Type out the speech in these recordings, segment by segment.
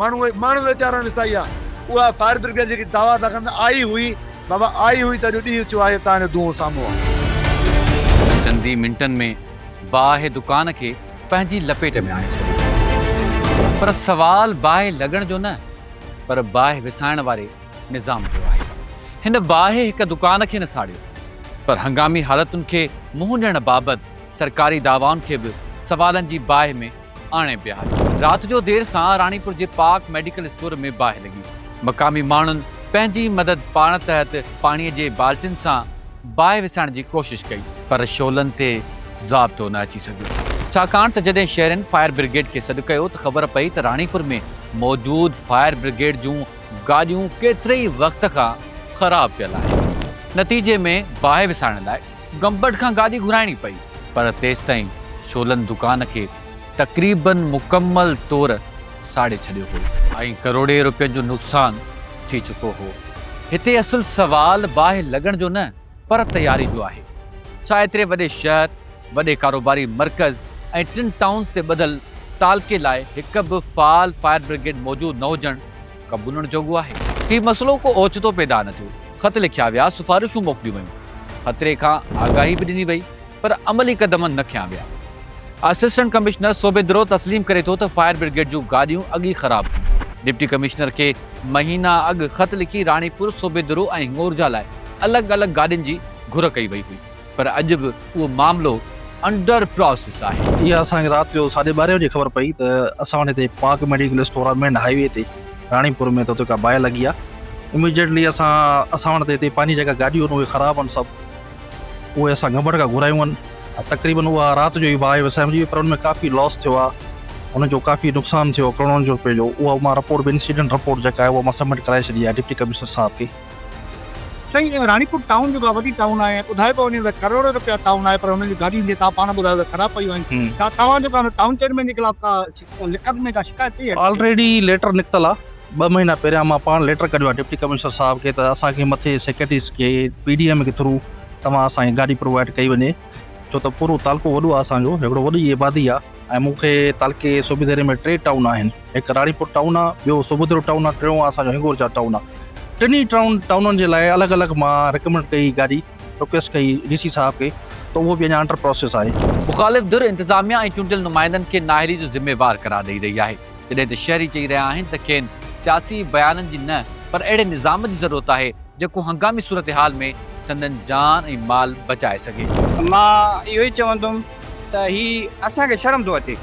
ماڻهو اهي ماڻهو ويچارا وسائي آ. اها فائر برگيڊ جيڪي دعويٰ ٿا ڪن ته آئي هئي بابا آئي هئي ته اڄ ڏينهن ٿيو آهي تان جو دونهون سامهون آ. چند ئي منٽن ۾ باهه دڪان کي پنهنجي لپيٽ ۾ آڻي ڇڏيو پر سوال باهه لڳڻ جو نه پر باهه وسائڻ واري نظام جو آهي. هن باهه هڪ دڪان کي نه ساڙيو پر هنگامي حالتن کي منهن ڏيڻ بابت سرڪاري دعوائن کي به سوالن جي باهه ۾ آڻي بيهاري رات جو دير سان راڻيپور جي پاڪ ميڊيڪل اسٽور ۾ باهه لڳي، مقامي ماڻهن پنهنجي مدد پاڻ تحت پاڻي جي بالٽين سان باهه وسائڻ جي ڪوشش ڪئي پر شعلن تي ضابطو نه اچي سگهيو ڇاڪاڻ ته جڏهن شهرين فائر برگيڊ کي سڏ ڪيو ته خبر پئي ته راڻيپور ۾ موجود فائر برگيڊ جون گاڏيون ڪيتري ئي وقت کان خراب پيل آهن نتيجي ۾ باهه وسائڻ لاء گمبٽ کان گاڏي گهرائڻي پئي. پر تيستائين شولن دڪان کي تقريباً مڪمل طور ساڙي ڇڏيو هو. ۽ ڪروڙين روپين جو نقصان ٿي چڪو هو. هتي اصل سوال باهه لڳڻ جو نه پر تياري جو آهي. ڇا ايتري وڏي شهر، وڏي ڪاروباري مرڪز ۽ ٽن ٽائونز تي ٻڌل تعلقي لاء هڪ به فعال فائر برگيڊ موجود نه هجڻ، قبولڻ جوڳو آهي. هي مسئلو ڪو اوچتو پيدا نه ٿيو، خط لکيا ويا، سفارشون موڪليون ويون، خطري کان آگاهي به ڏني وئي، پر عملي قدم نه کنيا ويا. اسسٽنٽ ڪمشنر سوڀيندرو تسليم ڪري ٿو ته فائر برگيڊ جون گاڏيون اڳ ئي خراب هيون، ڊپٽي ڪمشنر کي مهينا اڳ خط لکي راڻيپور، سوڀيندرو ۽ هڱورجا لاء الڳ الڳ گاڏين جي گهر ڪئي وئي هئي. پر اڄ به اهو معاملو انڊر پراسيس آهي. اها اسان کي رات جو ساڍي ٻارهين بجي خبر پئي ته اسان وٽ هتي پاڪ ميڊيڪل اسٽور آهي مين هاء وي تي راڻي پور ۾ ته اتي ڪا باهه لڳي آهي اميڊيٽلي اسان اسان وٽ ته هتي پنهنجي جيڪا گاڏيون آهن اهي خراب آهن سڀ اهي اسان گمبٽ کان گهرايون آهن تقريبن اها رات جو ئي باهه وسائجي وئي پر ان ۾ ڪافي لاس ٿيو آهي ان جو ڪافي نقصان ٿيو ڪروڙن جو رپين جو اها مان رپورٽ به انسيڊنٽ رپورٽ جيڪا آهي اها مان سبمٽ ڪرائي ڇڏي آهي ڊپٽي ڪمشنر صاحب کي. سائين راڻيپور ٽائون جيڪا وڏي ٽائون آهي ۽ ٻڌايو پيو وڃي ته ڪروڙين رپيا ٽائون آهي پر هنن جون گاڏيون جيئن توهان پاڻ ٻڌايو ته خراب پيون آهن ڇا توهان جيڪا هن ٽائون چيئرمين جي خلاف ڪا لکت ۾ ڪا شڪايت ڪئي آهي. آلريڊي ليٽر نڪتل آ ٻه مهينا پهريان مان پاڻ ليٽر ڪڍيو آ ڊپٽي ڪمشنر صاحب کي ته اسان کي مٿي سيڪريٽريز کي پي ڊي ايم کي ٿرو توهان اسان کي گاڏي پرووائيڊ ڪئي وڃي ڇو ته پورو تعلقو وڏو آ اسان جو هڪڙو وڏي آبادي آ. ۽ مون کي تعلقي صوبي ديري ۾ ٽي ٽائون آهن، هڪ راڻيپور ٽائون آ، ٻيو صوبوديرو ٽائون آ، ٽيون آ اسان جو هنگورجا ٽائون آ. ٽنهي ٽائون ٽائونن جي لاء الڳ الڳ مان رڪمنڊ ڪئي گاڏي، رڪويسٽ ڪئي ڊي سي صاحب کي ته اهو به اڃا انڊر پراسيس آهي. مخالف ڌر انتظاميا ۽ چونڊيل نمائندن کي نااهلي جو ذميوار قرار ڏئي رهي آهي، جڏهن ته شهري چئي رهيا آهن ته کين سياسي بيانن جي نه پر اهڙي نظام جي ضرورت آهي جيڪو هنگامي صورتحال ۾ سندن جان ۽ مال بچائي سگهي. مان اهو ئي چوندم. ته هي اسان کي شرم ٿو اچي.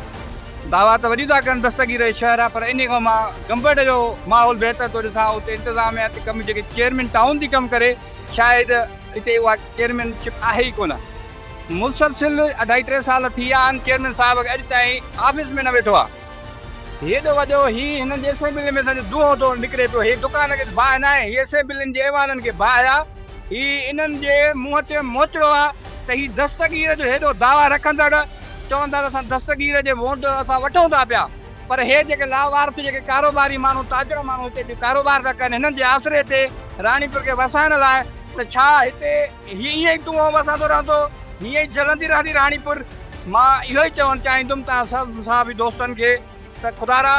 دعويٰ ته وڏيون ٿا ڪن دستگير هي شهر آهي پر انهي کان مان گمبٽ جو ماحول بهتر ٿو ڏسان اتي انتظاميا تي ڪم جيڪي چيئرمين ٽائون ٿي ڪم ڪري شايد اتي اها چيئرمين شپ آهي ئي ڪونه مسلسل اڍائي ٽي سال ٿي ويا آهن چيئرمين صاحب کي اڄ تائين آفيس ۾ نه ويٺو آهي. هيڏو وڏو هي هنن جي اسيمبلين ۾ سندس دونهون ٿو نڪري پيو هي دڪان کيس باهه ناهي هي اسيمبلين جي ايوانن کي باهه آ هي انهن جي منهن تي موچڙو آ ته هي دستگير جو هيڏو دعويٰ رکندڙ چوندا ته اسان دستگير جي وونٽ اسان وٺون ٿا پيا پر هي جيڪي لاوارث جيڪي ڪاروباري ماڻهو تاجر ماڻهو هتي ڪاروبار ٿا ڪن هنن جي آسري تي راڻيپور کي وسائڻ لاء ته ڇا هتي هي ائين ئي تون آئون وسندو رهندو، هيئن ئي جلندي رهندي راڻيپور. مان اهو ئي چوڻ چاهيندم توهان سڀ مصحافي دوستن کي ته خدارا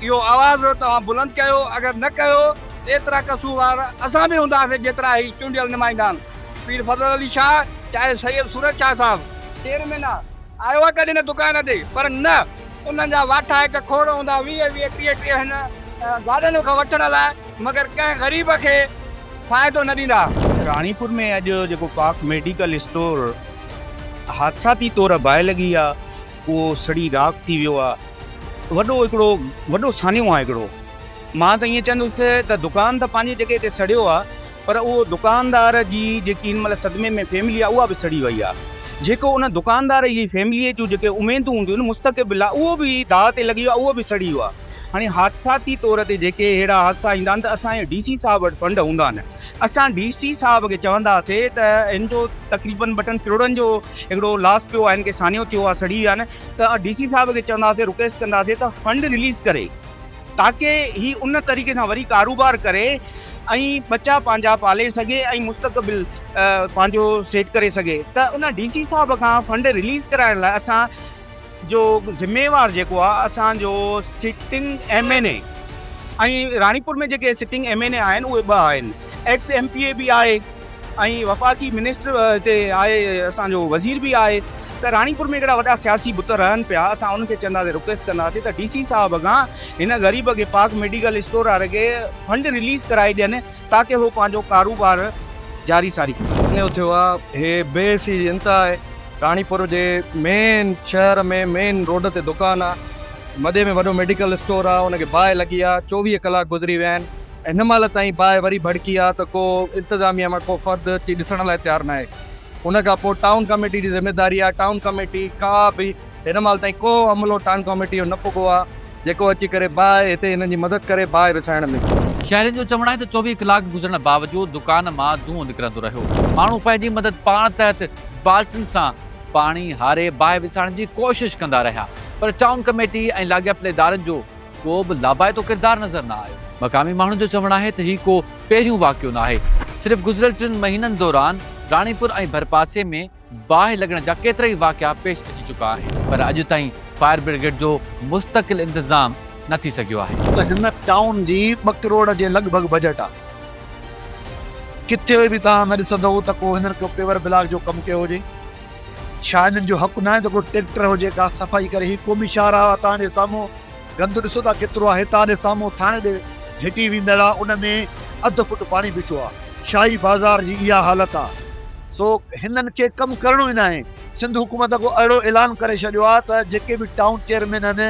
اهو آواز توهان بلند ڪيو، اگر نه ڪيو ته ايترا قصوروار اسان به هونداسين جيترا هي چونڊيل نمائندان پير فضل علي شاهه چاهي سيد صورت شاهه صاحب. شير مينا آيو آ ڪڏهن نه دڪان تي پر نه انهن جا واٺا هڪ کوڙ هوندا ويهه ويهه ٽيهه ٽيهه هن گاڏن کان وٺڻ لاء. مگر ڪنهن غريب کي فائدو نه ڏيندا. راڻيپور ۾ اڄ جيڪو پاڪ ميڊيڪل اسٽور حادثاتي طور باهه لڳي آ اهو سڙي راک ٿي ويو آ وڏو هڪڙو وڏو سانحو آ هڪڙو مان ته ائين چوندس ته دڪان ته پنهنجي جڳهه تي سڙيو آ پر اهو دڪاندار جي جيڪي هن مهل صدمي ۾ فيملي آ اها به سڙي وئي آ جيڪو ان دڪاندار جي فيملي جون جيڪي اميدون هونديون مستقبل لاء اهو به داء تي لڳي ويو آ اهو به سڙي ويو آ. هاڻي حادثاتي طور تي جيڪي اهڙا حادثا ايندا آهن ته اسان جي ڊي سي صاحب وٽ فنڊ هوندا آهن اسان ڊي سي صاحب کي چوندا سي ته هن جو تقريبن ٻه ٽن ڪروڙن جو هڪڙو لاس پيو آهن کي سانيو ٿيو آهي سڙي ويا آهن ته ڊي سي صاحب کي چوندا سي رڪويسٽ ڪندا سي ته فنڊ رليز ڪري تاڪي هي ان طريقي سان وري ڪاروبار ڪري ۽ ٻچا پنهنجا پالي سگهي ۽ مستقبل پنهنجو سيٽ ڪري سگهي ته ان ڊي سي صاحب کان فنڊ رليز ڪرائڻ لاء اسان جو ذميوار جيڪو آ اسان جو sitting M N A ۽ Ranipur ۾ جيڪي سٽنگ ايم اين اي آهن اهي ٻه آهن ايڪس ايم پي اي به آهي ۽ وفاقي منسٽر هتي آهي اسان جو وزير به آهي ته راڻيپور ۾ ڪهڙا وڏا سياسي بت رهن پيا اسان انهن کي چونداسين رڪويسٽ ڪنداسين ته ڊي سي صاحب کان هن غريب کي پاڪ ميڊيڪل اسٽور واري کي فنڊ رليز ڪرائي ڏين تاڪه هو پنهنجو ڪاروبار جاري ساري ڪن. اهو ٿيو آ هي بي حسي جي انتها آهي راڻيپور جي مين شهر ۾ مين روڊ تي دڪان آ مدي ۾ وڏو ميڊيڪل اسٽور آ ان کي باهه لڳي آ چوويهه ڪلاڪ گذري ويا آهن ۽ هن مهل تائين باهه وري ڀڙڪي آ ته ڪو انتظاميه مان ڪو فرد اچي ڏسڻ لاء تيار ناهي ان کان پوء ٽائون ڪميٽي جي ذميداري آ ٽائون ڪميٽي ڪا به هن مهل تائين ڪو عملو ٽانگ ڪاميٽي جو نه پڳو آهي، جيڪو اچي ڪري باهه هتي هنن جي مدد ڪري باهه وڇائڻ ۾. شهرين جو چوڻ آهي ته چوويهه ڪلاڪ گذرڻ باوجود دڪان مان دونهون نڪرندو رهيو. ماڻهو پنهنجي مدد پاڻ تحت بالٽن سان پاڻي هاري باهه وسائڻ جي ڪوشش ڪندا رهيا پر ٽائون ڪميٽي ۽ لاڳاپيل ادارن جو ڪو به لاڀائتو ڪردار نظر نه آيو. مقامي ماڻهن جو چوڻ آهي ته هي ڪو پهريون واقعو ناهي، صرف گذريل ٽن مهينن دوران راڻيپور ۽ ڀرپاسي ۾ باهه لڳڻ جا ڪيترائي واقعا پيش اچي چڪا آهن پر اڄ تائين فائر برگيڊ جو مستقل انتظام نه ٿي سگهيو آهي. ڪنهن ٽائون جي ٻه ڪروڙ جي لڳ ڀڳ بجيٽ آهي. ڪٿي به توهان نه ڏسندئو ته ڪو هنن ڪو پيور بلاڪ جو ڪم ڪيو هجي. ڇا هنن جو حق ناهي ته ڪو ٽريڪٽر هجي ڪا صفائي ڪري هي قومي شاهراهه آهي توهان جي سامهون. گند ڏسو ٿا ڪيترو آهي تان ڏي سامهون ٿانء ڏي جهٽي ويندڙ آ ان ۾ اڌ فٽ پاڻي بيٺو آ شاهي بازار جي اها حالت آ سو هنن کي ڪم ڪرڻو ئي ناهي سنڌ حڪومت اڳو اهڙو اعلان ڪري ڇڏيو آ ته جيڪي به ٽائون چيئرمين آهن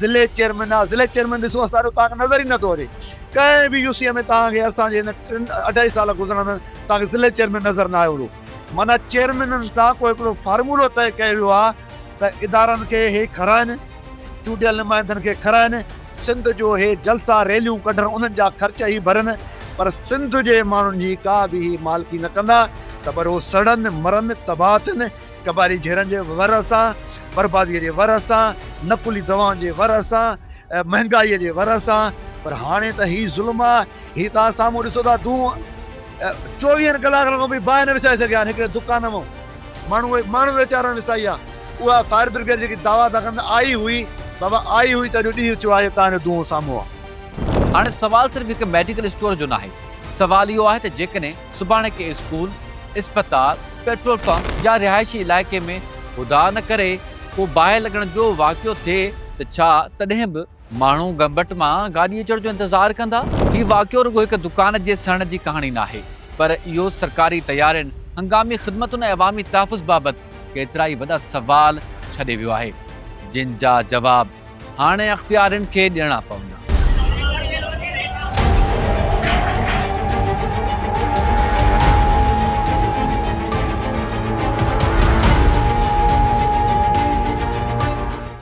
ضلعي چيئرمين آ ضلعي چيئرمين ڏسو اسان جو توهان کي نظر ئي نٿو اچي ڪنهن به يو سي ۾ توهان کي اسان جي هن ٽن اڍائي سال گذرڻ ۾ توهان کي ضلعي چيئرمين نظر ناهي اهڙو معنيٰ چيئرمينن سان ڪو هڪڙو فارمولو طئي ڪيو ويو آهي ته ادارن کي هي کارائن، چونڊيل نمائندن کي کارائن، سنڌ جو هي جلسا ريليون ڪڍن انهن جا خرچ هي ڀرن پر سنڌ جي ماڻهن جي ڪا به هي مالڪي نه ڪندا ته پر هو سڙن، مرن، تباهه ٿين، قبائلي جهيڙن جي ورهه سان، برباديء جي ورهه سان، نقلي دوائن جي ورهه سان، مهنگائيء جي ورهه سان پر هاڻي ته هي ظلم آهي، هي ته سامهون ڏسو ٿا دونهون. چوويهن ڪلاڪن کان به باهه نه وسائي سگهيا آهن هڪڙي دڪان مان ماڻهو ماڻهو ويچارن وسائي آهي اها فائر برگيڊ جيڪي دعويٰ ٿا ڪن ته آئي هئي بابا آئي هئي ته اڄ ڏينهن ٿيو آهي توهان جو دونهون سامهون آهي. هاڻي سوال صرف هڪ ميڊيڪل اسٽور جو ناهي سوال اهو آهي ته جيڪڏهن سڀاڻي ڪنهن اسڪول، اسپتال، پيٽرول پمپ يا رهائشي علائقي ۾ خدا نه ڪري ڪو باهه لڳڻ جو واقعو ٿئي ته ڇا تڏهن به ماڻهو گمبٽ مان گاڏي اچڻ جو انتظار ڪندا. هي واقعو رڳو هڪ دڪان جي سڙڻ جي ڪهاڻي ناهي، پر اهو سرڪاري تيارين، هنگامي خدمتن ۽ عوامي تحفظ بابت ڪيترائي وڏا سوال ڇڏي ويو آهي، جن جا جواب هاڻي اختيارين کي ڏيڻا پوندا.